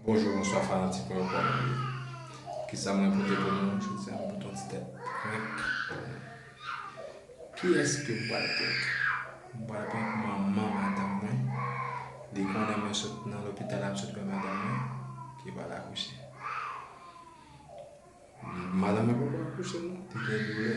Bonjou bonswa fanatik mwen yo kòman nou ye kisa mwen pote pou nou jodi a mwen pote yon ti tèt prank pou nou kiyès ke m pral prank m pral prank manman madanm mwen li konnen mwen sot nan lopital la m sot wè madanm mwen ki pral akouche madanm mwen poko akouche non li gen doulè.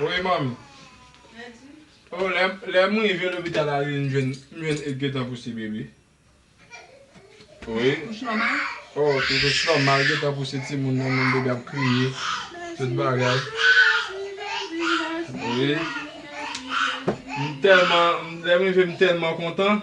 Wi manmi. Oh lè m rive lopital la m jwenn Edh gentan pouse bebe. Wi. Kouche nòmal? Oh tout kouche nòmal li gentan pouse timoun nan menm bebe a ap kriye. Tout bagay. Wi. M tèlman lè m rive m tèlman kontan.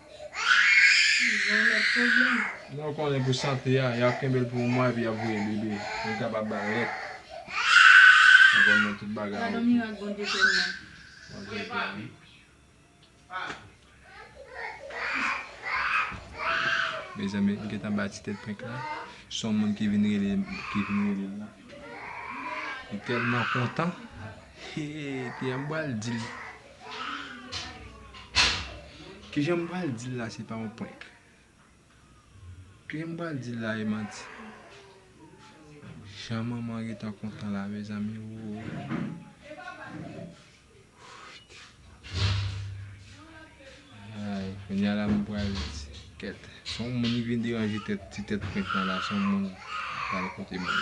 Tizon met pwoblèm. Lè yo konnen pou sante a, yap kenbel pou yon mwa epi yap voye bebe. Yo kapab bal lèt. Ou konn men tout bagay ok. Gadon mirak Bondye fè m nan. Bondye beni. Mezanmi m gentan bay ti tèt prank la. Son moun ki vin rele ki vin relel la. Li telman kontan. Hee kiyè m bal dil. Kijan m pral di l la se pa yon prank? Kijan m pral di l la e manti? Jan manman Rita kontan la mezanmi ooyy Kounya la m pral di kèt Son moun ki vin deranje ti tèt prank lan la son moun pral kote moun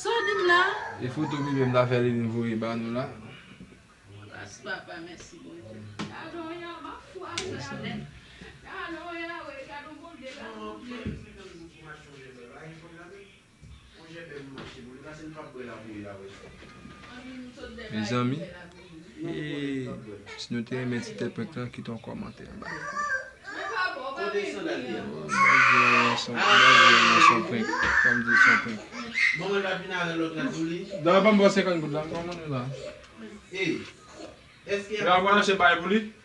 Saw dim la? E foto bebe m ta fè Liline voye ba nou la? Gras papa mèsi Bondye. Si nou te renmen ti tèt prank lan kite yon kòmantè anba vidéo an.